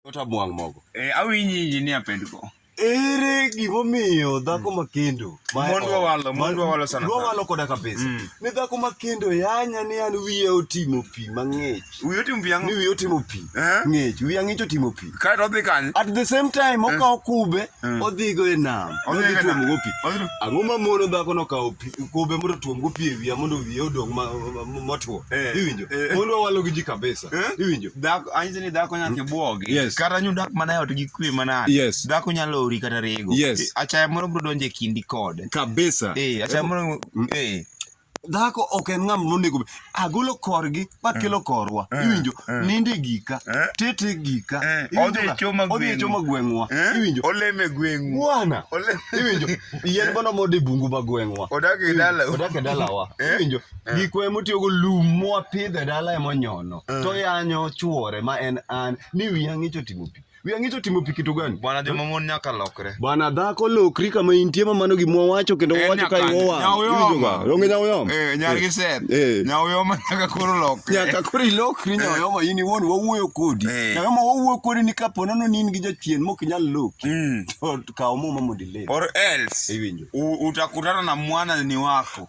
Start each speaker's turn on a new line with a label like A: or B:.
A: Kota bwang' mogo. Eh, awinyi injinia pendgo. Ere gimomiyo dhako makendo ma- Mon wawalo, mon ma- wawalo sana sana. wawalo koda kabisa Mm. ni dhako makendo yanya ni an wiye otimo pi mang'ich Wiyo tim ni piang'. wiye otimo pi Eh? ng'ich wiye ang'ich otimo pi Kae to odhi kanye? at the same time okawo kube Mm. odhigo e nam Odhi odhi e nam. tuomogo pi Odhi- ang'o ma mono dhako nokawo pi- kube mondo otuomgo pi e wiya mondo wiye odong' ma- ma- motwo Eh, iwinjo eh. mon wawalo gi ji kabisa Eh? Iwinjo? Dhako anyiso ni dhako nyaka ibuogi. Yes. Kata nyu dak mana e ot gi kwe mana. Yes. Dhako nyalo ori kata rego. Yes. Eh, Achaya moro bro donje kindi kode. Kabisa. Eh, achaya moro eh dhako ok en ng'ama nonego be agolo korgi makelo eh. korwa eh. iwinjo eh. ninde gika tete gika odhi e choma e gweng'wa iwinjo oleme gweng'u bwana iwinjo yien bono mode bungu ma gweng'wa odak e dalawa iwinjo Eh. gikwa emotiyogo lum mwapidho e dala emonyono eh. to yanyo chuore ma en an ni wiya ng'icho timo pi wiya ng'icho timo pi kitu gani bwana joma mon nyaka lokre bwana dhako lokri kama intie ma mano gimwa wacho kendo eh, wacho ka iwowa onge nyawoyoma nyargi set nyawoyoma nyaka koro lokre nyaka koro ilokri nyawoyoma in iwuon wawuoyo kodi nyawoyoma wawuoyo kodi ni kapo nono ni in gi jachien mok inyal loki mm. to kaw muma mondo iler or else iwinjo utakutana na mwana ni wako